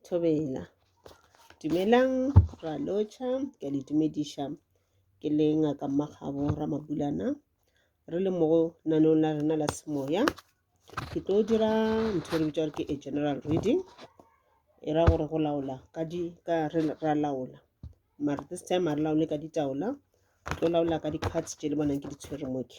Thobela. Dumelang Bra Lotšha, ke a le dumediša. Ke le Ngaka Mmakgabo Ramabulana. Re le mo naneong la rena la semoya. Ke tlo dira ntho e re bitša gore ke a general reading. E ra gore go laola ka di ka re ra laola. Mara this time ha re laole ka ditaola. Re tlo laola ka di-cards tše le bonang ke di tshwere mo ke.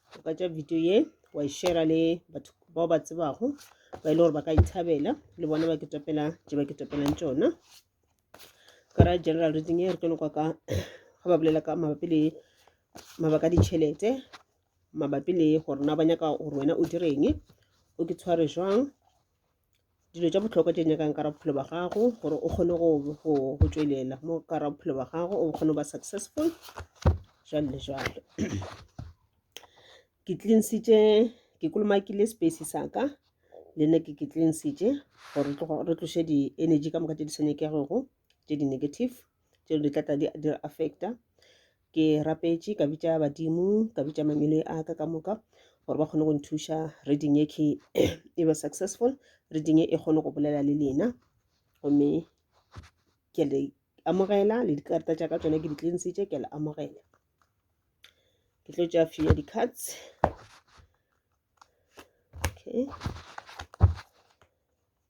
ka tša video ye wa e shera le batho bao ba tsebago ba e le gore ba ka ithabela le bona ba ke topela tše ba ke topelang tšona ka ra general reading ye re tlo lokwa ka ga ba bolela ka mabapi le mabaka a ditšhelete mabapi le gore na ba nyaka gore wena o direng o ke tshware jwang dilo tša bohlokwa tše nyakang ka ra bophelo ba gago gore o kgone go tšwelela mo ka ra bophelo ba gago o kgone go ba successful jalo le jalo ke tlinsitše ke kolomakile space sa ka le nna ke ke tlinsitše gore re tloše di-energy ka moka tše di sa nyakegego tše di-negative tšeo di tlatla di affecta ke rapetše ka bitša badimo ka bitša mangwele a ka ka moka gore ba kgone go nthuša reading e ke e be successful reading e kgone go bolela le lena gomme ke le amogela le dikarata tša ka tsone ke di tlinsitše ke le amogela ke tlo tša few ya di-cards okay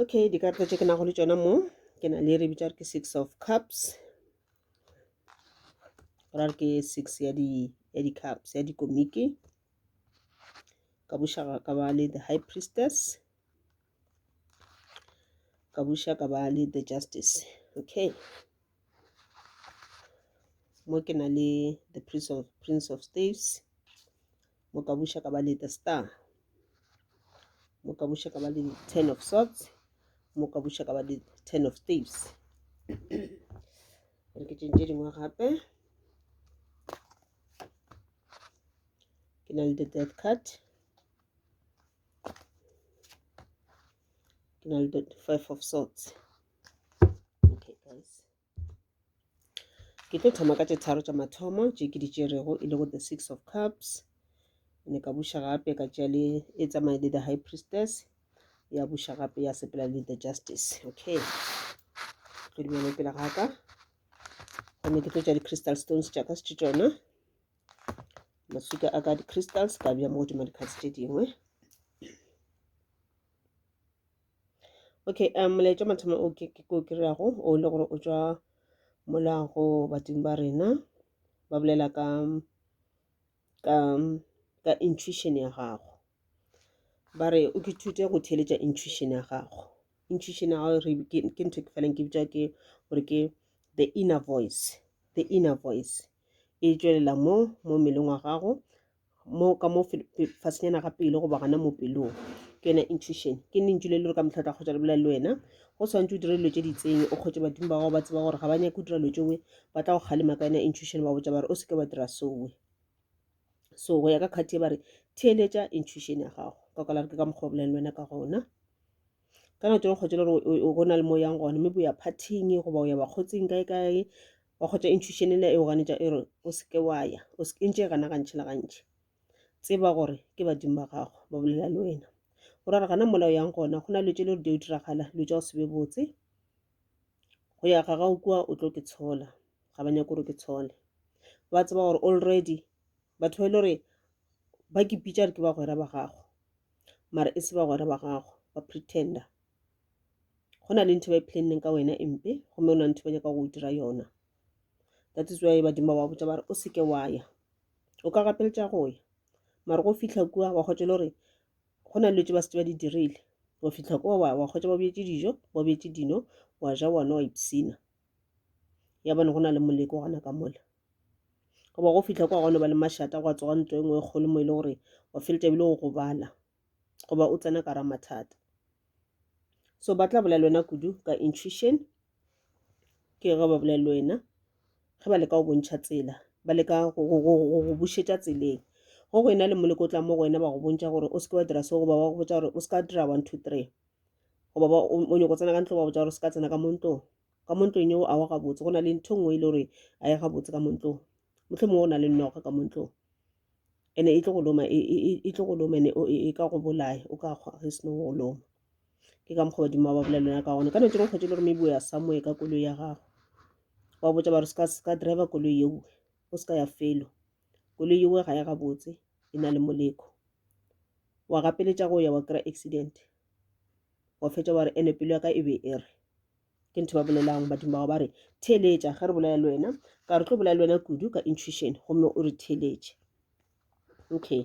okay dikarata tše ke nago le tšona mo ke na le re bitša gore ke six of cups ra re ke six ya di ya di-cups ya dikomiki ka buša ka ba le the high priestess ka buša ka ba le the justice okay mo ke na le the prince of, prince of staves mo ka buša ka ba le the star mo ka buša ka ba le ten of swords mo ka buša ka ba le ten of staves re ke tšentše dingwe gape ke na le the death card ke na le the five of swords okay guys ke tlo thoma ka tše tharo tša mathomo tše ke di tšerego e lego the six of cups ne ka buša gape ka tšea le e tsamaye le the high priestess ya buša gape ya sepela le the justice okay tlo di bone pele ga ka gomme ke tlo tša di-crystal stones tša ka se tšona maswika a ka di-crystals ka bja mo godimo di-cards tše dingwe okay um molaetša wa mathomo o ke ke o kry-ago o le gore o tšwa mola go bating ba rena ba bolela ka ka ka intuition ya gago ba re o ke thute go theeletša intuition ya gago intuition ya gago re ke ke ntho ke feleng ke bitša ke gore ke the inner voice the inner voice e tšwelela mo mo mmeleng wa gago mo ka mo fasenyana ga pelo goba gana mo pelong ke yona intuition ke lentšu le le gore ka motlha o tla kgotsa le bolela le wena go tshwanetse o dire dilo tse di tseng o kgotse badimo ba gago ba tseba gore ga ba nyake o dira dilo tsewe ba tla go kgalema ka yona intuition ba botsa bare o seke wa dira sowe so go ya ka kgati e bare theeletša intuition ya gago ka kwala ke ka mokgwa o bolela le wena ka gona ka nako tsone kgotse le gore go na le mo yang gone mme bo ya partyng goba o ya bakgotsing kae kae wa kgotša intuition ena e o ganetša e re o se ke wa ya o se ntše e gana gantši le gantši tseba gore ke badimo ba gago ba bolela le wena o ra re gana mola o yang gona go na le tše le gore di o diragala dilo tša go se be botse go ya ga gago kua o tlo ke tshola ga ba nyako gore ke tshole ba tseba gore already batho ba e le gore ba ke pitša re ke bagwera ba gago mara e se bagwera ba gago ba pretender go na le ntho ba e planneng ka wena e mpe gomme go na le ntho ba nyaka go dira yona that is why badimo ba botsa ba re o seke wa ya o ka gapeletša go ya mare go fitlha kua wa kgotse le gore go na le dilo tse ba setse ba di dirile wa fitlha kua wa wa kgotse ba bjetse dijo ba bjetse dino wa ja wana wa ipsina ya bone go na le moleko gona ka mola goba go fitlha kwa gona ba le mašata gwa tsoga ntlo e nngwe e kgolo mo e le gore wa feletša bile go gobala goba o tsena ka ra mathata so ba tla bolela le wena kudu ka intuition ke ge ba bolela le wena ge ba leka go bontšha tsela ba leka go bušetša tseleng go go ena le moleko o tla mo go wena ba go bontšha gore o seke wa dira so goba ba go botsa gore o seka dira one two three goba ba o nyoko tsena ka ntlo ba botsa gore o seka tsena ka mo ntlong ka mo ntlong eo a wa gabotse go na le ntho e nngwe e le gore a ye gabotse ka mo ntlong mohlomongwe o na le noga ka montlong ene e tlo go loma e, e, e, e tlo go loma ene e ka go bolaya o ka kgwa ge seno go loma ke ka mokgwa badimo ba ba bolela lona ka gona ka nete go kgwetse le gore maybe o ya samoe ka koloi ya gago wa botsa ba re seka driver koloi yeo o seka ya felo koloi yeo ga ya gabotse e na le moleko wa gapeletša go ya wa kry accident wa fetša wa re ene pelo ya ka e be e re ke ntho ba bolelang badimo bao ba re theeletša ge re bolela le wena ka re tlo bolela le wena kudu ka intuition gomme o re theeletše okay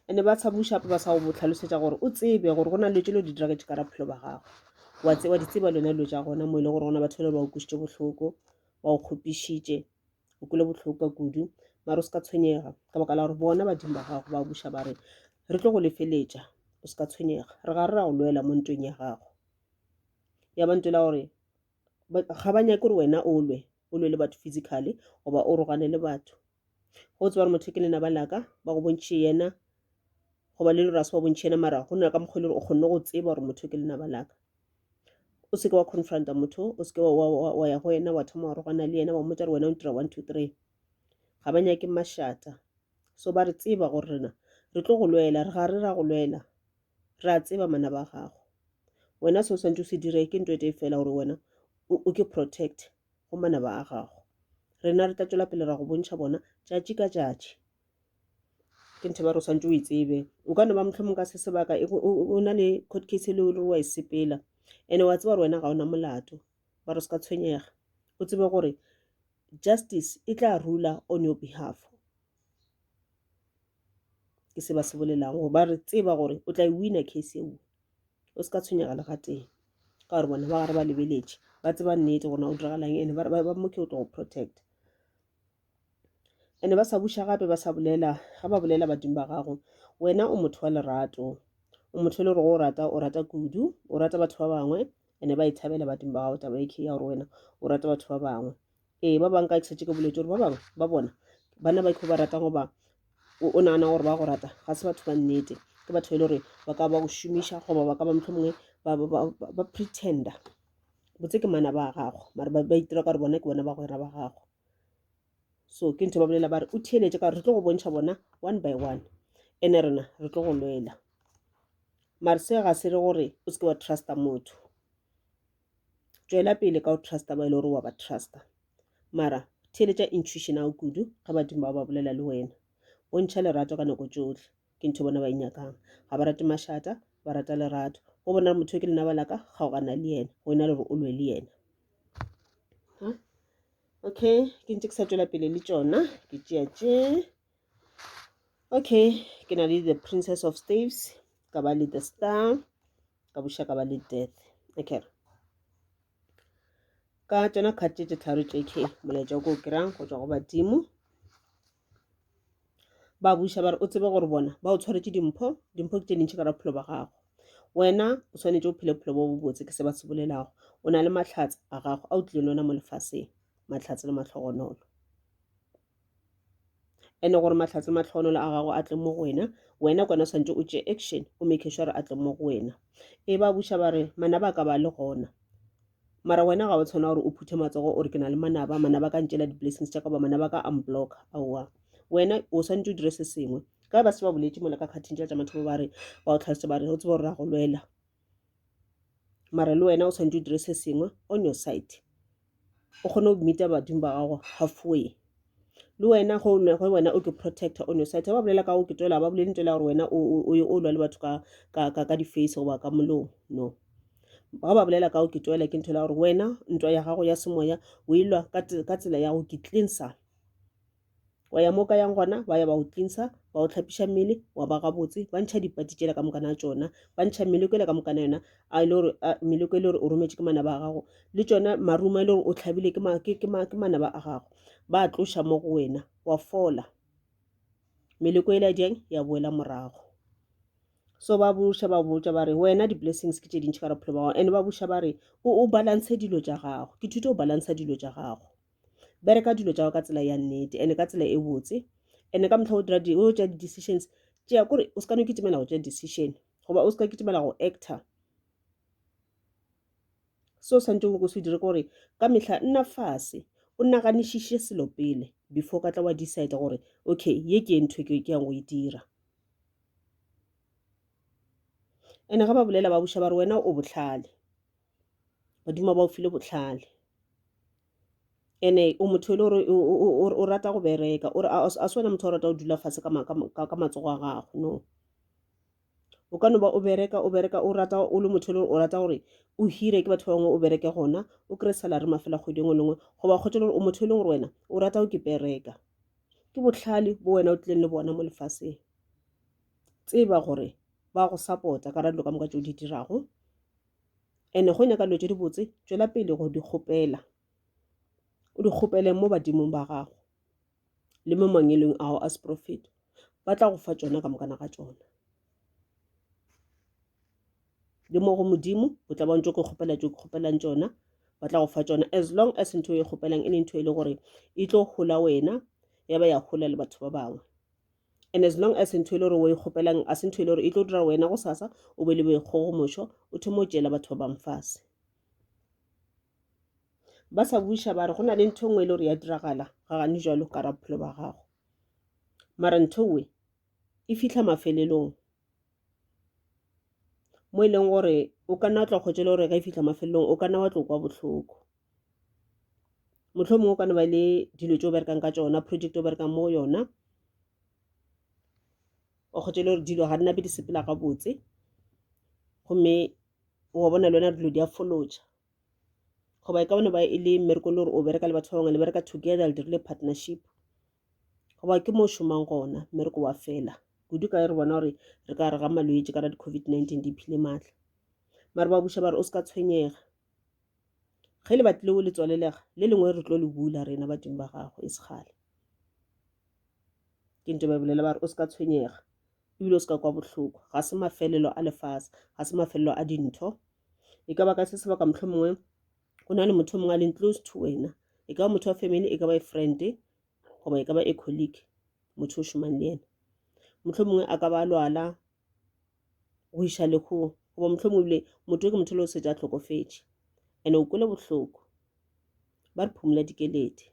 ande ba sa bušapa ba sa go botlhalosetša gore o tsebe gore go na letse lo di dira ke kara phelo ba gago wa tse wa di tseba lona lo ja gona mo ile e gore gona batho le ba o kusitse bohloko ba o kgopišitše o kule bohloko ka kudu mara o se ka tshwenyega ka baka la gore bona badimo ba gago ba buša ba re re tlo go lefeletša o se ka tshwenyega re ga re ra go lwela mo ntweng ya gago ya ba ntela gore ga ba nyake gore wena o lwe o lwe le batho physically goba o rogane le batho go tseba gore motho ke lena ba laka ba go bontšhe yena goba le lora se ba bontšhe yena mara go na ka mokgwa e le gore o kgonne go tseba gore motho ke lena ba laka o seke wa confronta motho o seke wa ya go yena wa thoma wa rogana le yena wa mmotsa gore wena o ntira one two three ga ba nyake mashata so ba re tseba gore rena re tlo go lwela re ga re ra go lwela re a tseba mana ba gago wena se o swantse o se dire ke nto e tee fela gore wena o ke protect go mana ba gago rena re tla tswela pele ra go bontšha bona tšatši ka tšatši ke ntho ba re o swantse o e tsebe o ka no ba motlhomong ka se sebaka o na le court case e le gore wa e sepela ene wa tseba gore wena ga ona molato ba re o se ka tshwenyega o tsebe gore justice e tla rula on your behalf ke se ba se bolelago gore ba re tseba gore o tla e wina case eo o se ka tshwenyega le gateng ka gore bona ba gare ba lebeletše ba tseba nnete gona o diragalang ene ba moke o tlo go protect ene ba sa buša gape ba sa bolela ga ba bolela badimo ba gago wena o motho wa lerato o motho e le gore o rata o rata kudu o rata batho ba bangwe ene ba e thabela badimo ba gago taba e ya gore wena o rata batho ba bangwe ee ba bangwe ka ke setse ke boletse gore ba bangwe ba bona bana ba ikho ba ratang goba o nagana gore ba go rata ga se batho ba nnete ke batho e le gore ba ka ba go šomiša goba ba ka ba motlho mongwe ba pretender botse ke mana ba gago mare ba itira ka gore bona ke bona ba gwera ba gago so ke ntho ba bolela ba re o theeletse ka gore re tlo go bontšha bona one by one ene rena re tlo go lwela mare se ga se re gore o seke wa trusta motho tšwela pele ka go trusta ba e le gore wa ba trusta mara theeletša intuition ao kudu ga badimo ba ba bolela le wena bontšha lerato ka nako tšohle ke ntho bona ba inyakang e ga ba rate mašata ba rata lerato go bona gore motho ke lena ba laka kgaogana le yena go ena le gore o lwe le yena okay ke ntse ke sa tswela pele le tšona ke tšea tšee Okay ke na le the princess of staves ka ba le the star ka buša ka ba le death okay ka tšona card tše tše tharo tše ke molaetša ko o kry-ang go tšwa go badimo ba buša ba re o tsebe gore bona ba o tshwaretse dimpho dimpho ke tše dintšhi ka ra bophelo ba gago wena o tshwanetse o phele bophelo bo bo botse ke se ba se bolelago o na le matlhatsa a gago a o tlile le ona mo lefaseng matlhatsa le matlhogonolo ene gore mahlatse matlhogonolo a gago a tle mo go wena wena kwana swantse o tše action o make sure gore a tle mo go wena e ba buša ba re manaba ka ba le gona mara wena ga o tshwana gore o phuthe matsogo o re ke na le manaba manaba ka ntšela di-blessings tša ka ba manaba ka unblock aowa wena o swantse o dire se sengwe ka ba se ba boletse mola ka kgathing tša tša mathomo ba re ba o tlhalose ba re o tsebe gore ra go lwela mara le wena o tshwanetse o dire se sengwe on your side o kgone go meet-a badimo ba gago halfway le wena go wena o ke protector on your side ba bolela ka go ke tswela ba bolele nto ya gore wena o ye o lwa le batho ka di-face goba ka molomo no ga ba bolela ka go ke tswela ke ntho ya gore wena ntwa ya gago ya semoya o e lwa ka tsela ya go ke cleansa wa ya mo ka yang gona ba ya ba o tlinsa ba o tlhapiša mmele wa ba gabotse ba ntšha dipati tšela ka mokana tšona ba ntšha meleko ele ka mokana yona a e le gore meleko e le gore o rometše ke manaba a gago le tšona maruma e le gore o tlhabile ke manaba a gago ba a tloša mo go wena wa fola meleko ele ya jang ya boela morago so ba buša ba botša ba re wena di-blessings ke tše dintšhi ka re phelo ba gago and ba buša ba re o balance dilo tša gago ke thuto o balance dilo tša gago bereka dilo tša ka tsela ya nnete ene ka tsela e botse ene ka motlha o dira o tša di-decisions tšea kore o se ka no kitimela go tša decision goba o se ka kitimela go actor seo santse o se dire gore ka mehla nna fase o naganišiše selo pele before ka tla wa decide gore okay ye ke ntho ke yang go e dira ene ga ba bolela ba buša ba re wena o botlhale badimo ba o file botlhale ene o motho e le gore o rata go bereka ore a se wena motho o rata go dula fatshe ka matsogo a gago no o ka no ba o bereka o bereka o rata o le motho e le gore o rata gore o hire ke batho ba bangwe o bereke gona o kry salary mafela kgwedi engwe lengwe goba kgotse le gore o motho e leng gore wena o rata go ke bereka ke botlhale bo wena o tlileng le bona mo lefaseng tseba gore ba go support-a ka ra dilo ka moka tse o di dirago ene go nyaka dilo tse dibotse tšwela pele go di kgopela o di kgopele mo badimong ba gago le mo mangelong ao a seprofeto ba tla go fa tsona ka mokana ga tsona le mo go modimo o tla bantse ke kgopela tse ke kgopelang tsona ba tla go fa tsona as long as ntho e kgopelang e le ntho e le gore e tlo gola wena ya ba ya gola le batho ba bangwe and as long as ntho e le gore o e kgopelang a se ntho e le gore e tlo dira wena go sasa o be le boikgogomošo o thoma o tšeela batho ba bangfase ba sa buša ba re go na le ntho e nngwe e le gore ya diragala ga gane jalo ka ra bophelo ba gago mara ntho we e fitlha mafelelong mo e leng gore o ka nna wa tla kgotse le gore ga e fitlha mafelelong o ka nna wa tlo kwa botlhoko motlho mongwe ka no ba le dilo tse o berekang ka tsona project o berekang mo yona o kgotse le gore dilo ga di nape di sepela gabotse gomme wa bona le wena dilo di a foloja goba e ka bone ba e le mmereko le gore o bereka le batho ba bangwe le bereka together le dirile partnership goba ke mo o šomang gona mmereko wa fela kudu ka re bona gore re ka re ga malwetse ka ra di-covid-19 di phile maatla mare ba buša ba re o se ka tshwenyega ge le batlile o le tswalelega le lengwe re tlo le bula rena badimo ba gago e segale ke nto ba bolela ba re o se ka tshwenyega ebile o se ka kwa bohloko ga se mafelelo a lefase ga se mafelelo a dintho e ka ba ka se sebaka motlho mongwe go na le motho mongwe a leng close to wena e ka ba motho wa family e ka ba e friend goba e ka ba e colleague motho o šomang le ena motlho mongwe a ka ba lwala go iša lehung goba mohlomong ebile motho ke motho le o setse a tlhokofetše and o kwele bohloko ba re phumula dikeledi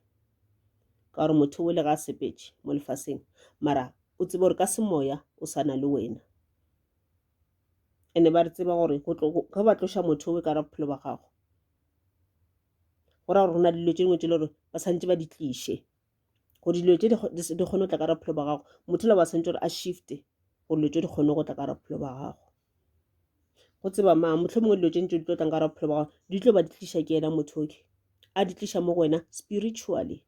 ka gore motho o le ga a sepetše mo lefaseng mara o tsebe gore ka semoya o sana le wena ene ba re tseba gore ge ba tloša motho o ka ra bophelo ba gago go ra gore go na le dilo tše dingwe tse le gore ba santse ba di tliše gore dilo tse di kgone go tla ka ra bophelo ba gago motho la ba santse gore a shifte gore dilo tse di kgone go tla ka ra bophelo ba gago go tseba maa motlho mongwe dilo tse ntse di tlo tlang ka ra bophelo ba gago di tlo ba di tlisa ke ena motho oke a di tlisa mo go wena spiritually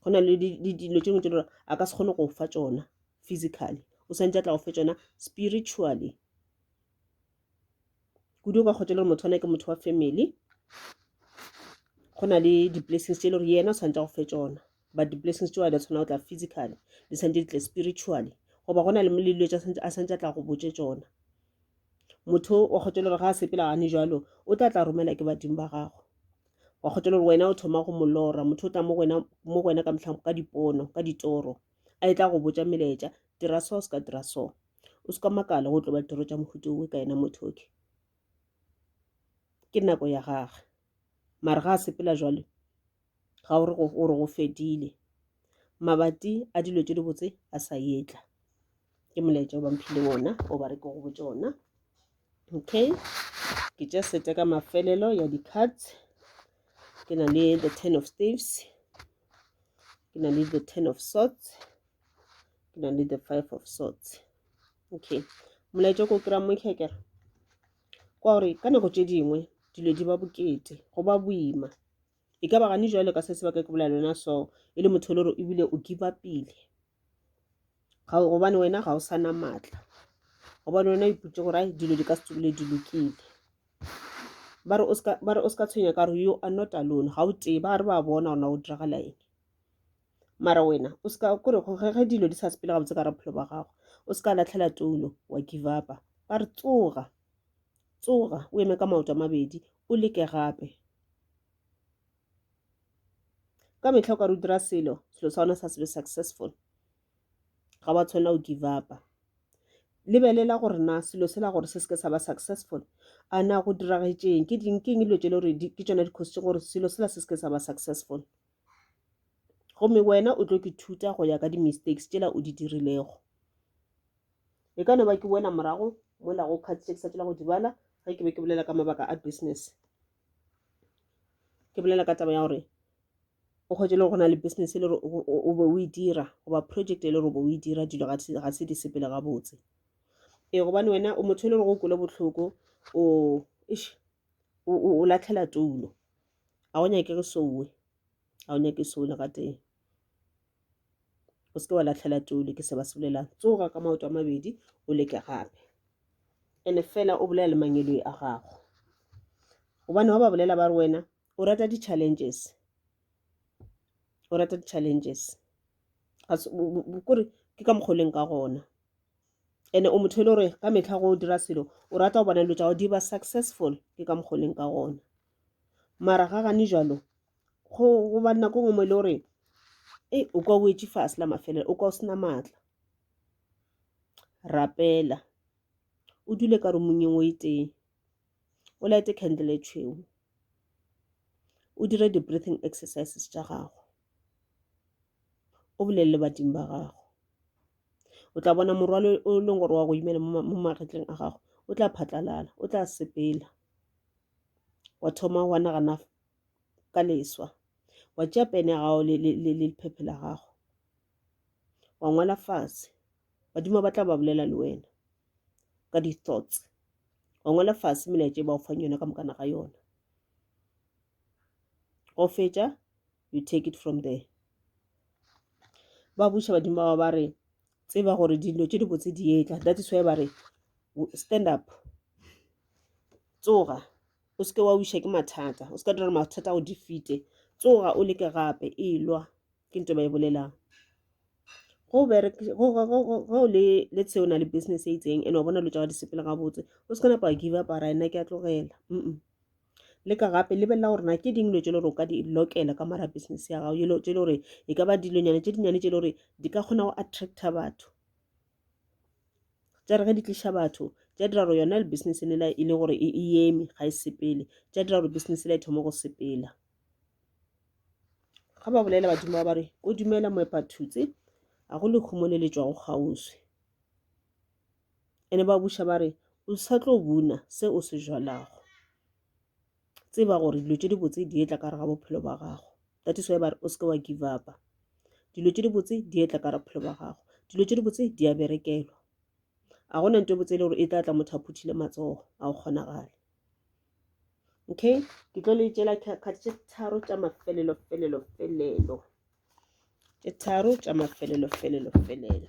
go na le dilo tse dingwe tse lore a ka se kgone go fa tsona physically o santse a tla go fe tsona spiritually kudu o ka kgotsa le gore motho wana ke motho wa family go na le di-blessings tse e le gore yena o tshwanetse go fe tsona but di-blessings tsewa di tshwana go tla physically di tshwanetse di tle spiritually goba go na le melelo tsa a santse a tla go botse tsona motho wa kgotsa le gore ga a sepela gane jalo o tla tla romela ke badimo ba gago wa kgotsa le gore wena o thoma go molora motho o tla mo go wena ka motlhang ka dipono ka ditoro a e tla go botsa melaetša dira so se ka dira so o se ka makala go tlo ba ditoro tša mohuto owe ka yena motho oke ke nako ya gage mare ga a sepela jwale ga o re go fedile mabati a dilo tse di botse a sa yetla ke molaetša o bamphile ona o ba re ke go botse ona okay ke tša sete ka mafelelo ya di-cards ke na le the ten of staves ke na le the ten of sorts ke na le the five of swords okay molaetša ko kry-a mo tlhekere kwa gore ka nako tše dingwe dilo di ba bokete go ba boima e ka ba gane jwale ka se se ba ka ke bolela lona so e le motho le gore ebile o kiba pele gobane wena ga o sa na maatla gobane wena iputse gore ai dilo di ka se tsebile di lokile ba re o se ka tshwenya ka gore yo a not alone ga o tee ba re ba bona gona go diragala eng mara wena o se ka kore ge dilo di sa sepele gabotse ka raphelo ba gago o se ka latlhela toulo wa give upa ba re tsoga tsoga o eme ka maoto a mabedi o leke gape ka metlha o ka re o dira selo selo sa gona sa sebe successful ga wa tshwanela o give upa lebelela gore na selo se la gore se seke sa ba successful a na go diragetšeng ke ding keng dilo tse le gore ke tsona dikgosi gore selo sela se seke sa ba successful gomme wena o tlo ke thuta go ya ka di-mistakes tšela o di dirilego e ka no ba ke wena morago mola go cards tše ke sa tšela go di bala ge ke be ke bolela ka mabaka a business ke bolela ka taba ya gore o kgwetse le go na le business e le gore o be o e dira goba project e le gore o be o e dira dilo ga se di sepele gabotse ee gobane wena o motho e le gore o kole botlhoko o ish o, o, o latlhela toulo a o nyake re souwe a o nyake soule ga tee o seke wa latlhela toulo ke se ba se bolelang tsoga ka maoto a mabedi o leke gape ene fela o bolela le mangeloi a gago gobane wa ba bolela ba re wena o rata di-challenges o rata di-challenges kore ke ka mokgoleng ka gona ene o motho e le gore ka metlha go dira selo o rata go bona dilo tsa go di ba successful ke ka mokgwa leng ka gona mara ga gane jalo go go ba nako nngwe mo e le gore e o kwa o wetse fase la mafelelo o kwa o sena maatla rapela o dule ka romong engwe e tee o laete candle e tšhweu o dire di-breathing exercises tša gago o bolelele badimo ba gago o tla bona morwalo o leng gore wa go imela mo magetleng a gago o tla phatlalala o tla sepela wa thoma wa nagana ka leswa wa tšea pene ya gago le lephephe la gago wa ngwala fatshe badimo ba tla ba bolela le wena ka di-thoughts wa ngwala fatshe melaetša e ba go fang yona ka mokana ga yona go fetša you take it from there ba buša badimo ba ba re tseba gore dilo tše dibotse di etla that is why ba re stand up tsoga o seke wa wiša ke mathata o seka dira mathata o di fite tsoga o leke gape e lwa ke nto ba e bolelang go le le tsheo na le business e itseng ene wa bona lo tšaga disepele gabotse o se ka napa give up a ra ena ke a tlogela mm leka gape lebelela gore na ke ding dilo tse le gore o ka di lokela ka mara business ya gago dilo tse le gore e ka ba dilonyana tse dinyane tse le gore di ka kgona go attracta batho tsa re ge di tliša batho tsa dira gore yona le business e lela e le gore e eme ga e sepele tsa dira gore business e la e thoma go sepela ga ba bolela badimo ba ba re o dumela moepathutse a go lehumo le le tswago kgauswi ene ba buša ba re o sa tlo buna se o se jalago tseba gore dilo tše dibotse di etla ka re ga bophelo ba gago that is why ba re o seke wa give up dilo tše dibotse di etla ka re bophelo ba gago dilo tše dibotse di a berekelwa a gona nto botse e le gore e tla tla motho a phuthile matsogo a go kgonagale okay ke tlo le tšela kgati tše tharo tša mafelelo felelo felelo tše tharo tša mafelelo felelo felelo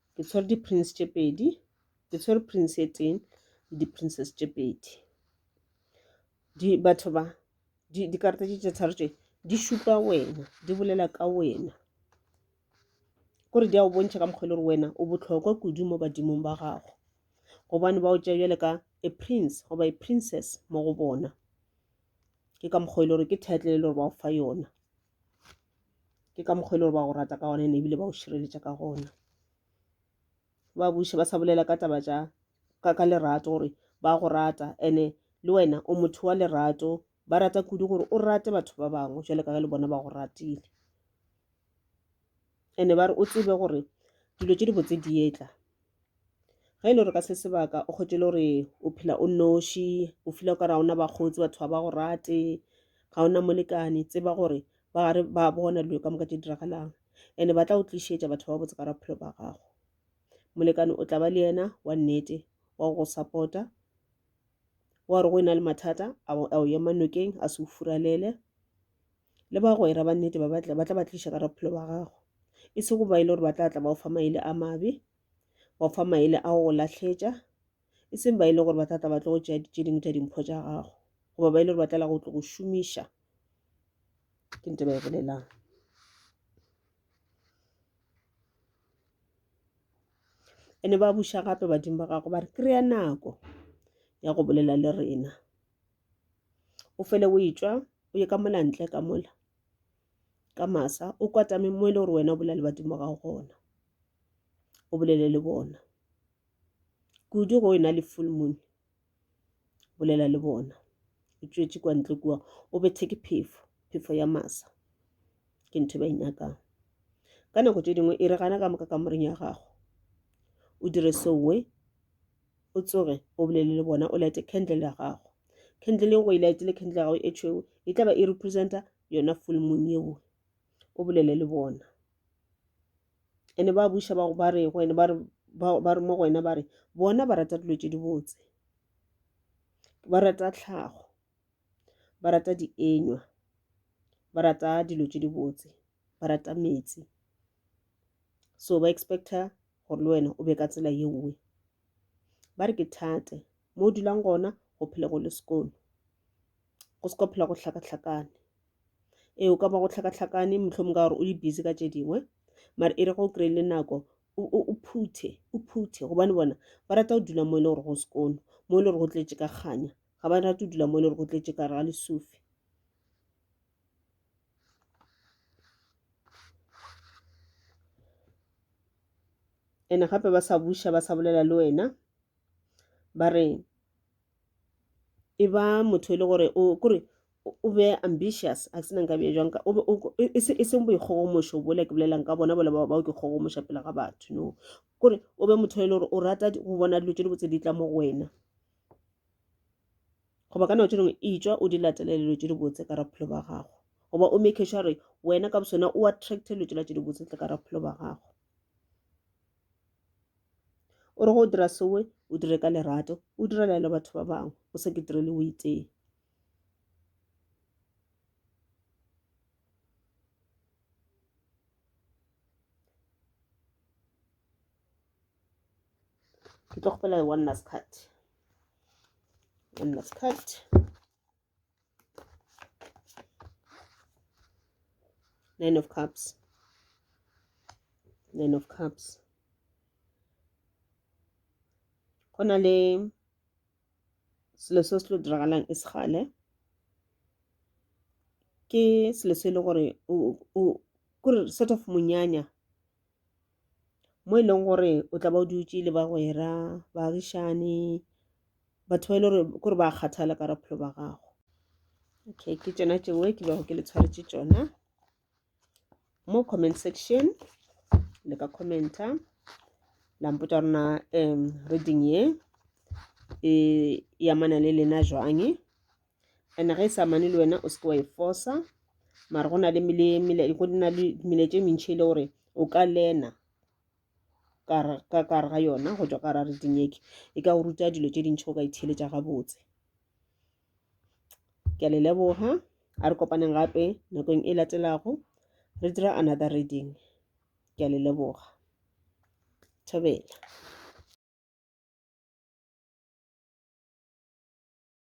ke tshwere di-prints tše pedi ke tshwere prints e tee le di-princess tše pedi di batho ba dikarata tše tše tharo tše di šupa wena di bolela ka wena kore di a o bontšha ka mokgwa e le gore wena o botlhokwa kudu mo badimong ba gago gobane ba o tšea bjale ka a prince goba a princess mo go bona ke ka mokgwa e le gore ke title e le gore ba o fa yona ke ka mokgwa e le gore ba go rata ka gone ne ebile ba go šireletša ka gona ba buša ba sa bolela ka taba tša ka ka lerato gore ba go rata ene le wena o motho wa lerato ba rata kudu gore o rate batho ba bangwe jale ka ge le bona ba go ratile and-e ba re o tsebe gore dilo tše dibotse di etla ge e le gore ka se sebaka o kgwetše e le gore o phela o noši o feela o ka re ga ona bakgotsi batho ga ba go rate ga ona molekane tseba gore ba gare ba bona dilo ka moka tše diragalang and-e ba tla o tlišetša batho ba botse ka ra bophelo ba gago molekane o tla ba le yena wa nnete wa go support-a wa re go e na le mathata a o ema nokeng a se o furalele le bagwera ba nnete ba batla ba tla ba tliša ka ra bophelo ba gago e se go ba e le gore ba tla tla ba o fa maele a mabe ba o fa maele a go lahletša e seng ba e le gore ba tla tla ba tlo go tšea tše dingwe tša dimpho tša gago goba ba e le gore ba tlala go tlo go šomiša ke nte ba e bolelang ene ba buša gape badimo ba gago ba re kry-a nako ya go bolela le rena o fele o etšwa o ye ka mona ntle ka mola ka masa o kwatame mo e le gore wena o bolela le badimo ga gona o bolele le bona kudu go ena le full moon bolela le bona o tšwetše kwa ntle kua o bethe ke phefo phefo ya masa ke ntho e ba e nyakang ka nako tše dingwe e re gana ka moka ka moreng ya gago o dire sowe o tsoge o bolele le bona o lete candle ya gago candle le go e lete le candle ya gago e tšhweu e tla ba e representa yona full moon yeo o bolele le bona ene ba buša ba go ba re go ene ba re ba re mo go wena ba re bona ba rata dilo tše dibotse ba rata tlhago ba rata dienywa ba rata dilo tše dibotse ba rata metsi so ba expecta gore le wena o be ka tsela ye nngwe ba re ke thate mo o dulang gona go phele go le sekolo go se ka phela go hlakahlakane ee o ka ba go hlakahlakane mohlomong ka gore o le busy ka tše dingwe mare e re go kry le nako o phuthe o phuthe gobane bona ba rata go dula mo e le gore go sekolo mo e le gore go tletše ka kganya ga ba rate dula mo le re go tletše kare ga lesufi ene gape ba sa buša ba sa bolela le wena ba re e ba motho e le gore o kore o be ambitious a se na nka bja jwang e, e, e seng boikgogomošo bole ke bolelang ka bona bole bao ke kgogomoša pele ga batho no kore o be motho e le gore o rata go bona dilo tse di botse di tla mo go wena goba ka nako tše dingwe itšwa o di latelele dilo tše dibotse ka raphelo ba gago goba o make sure gore wena ka bosona o attracte dilo tšela tše dibotse tle ka raphelo ba gago o re go dira sewe o dire ka lerato o direla le batho ba bangwe o se ke direle o itee ke tlo kgopela le one last card one last card nine of cups nine of cups go na le selo se se tlo diragalang e segale ke selo se e le gore kore sort of monyanya mo e leng gore o tla ba o dutse le bagwera baagišane batho ba e le gore kore ba kgathala ka bophelo ba gago okay ke tsona tšeo ke bego ke le tshwaretse tsona mo comment section le ka commenta la mpotsa rona um reading ye e yamana le lena jwange ene ge e sa mane le wena o seke wa e fosa mara go na le mele tše mentšhi e le gore o ka lena ka kare ga yona go tswa ka ra re dinyeke e ka go ruta dilo tše dintšhi o ka itheletša gabotse ke a le leboga a re kopaneng gape nakong e latelago re dira another reading ke a le leboga thobela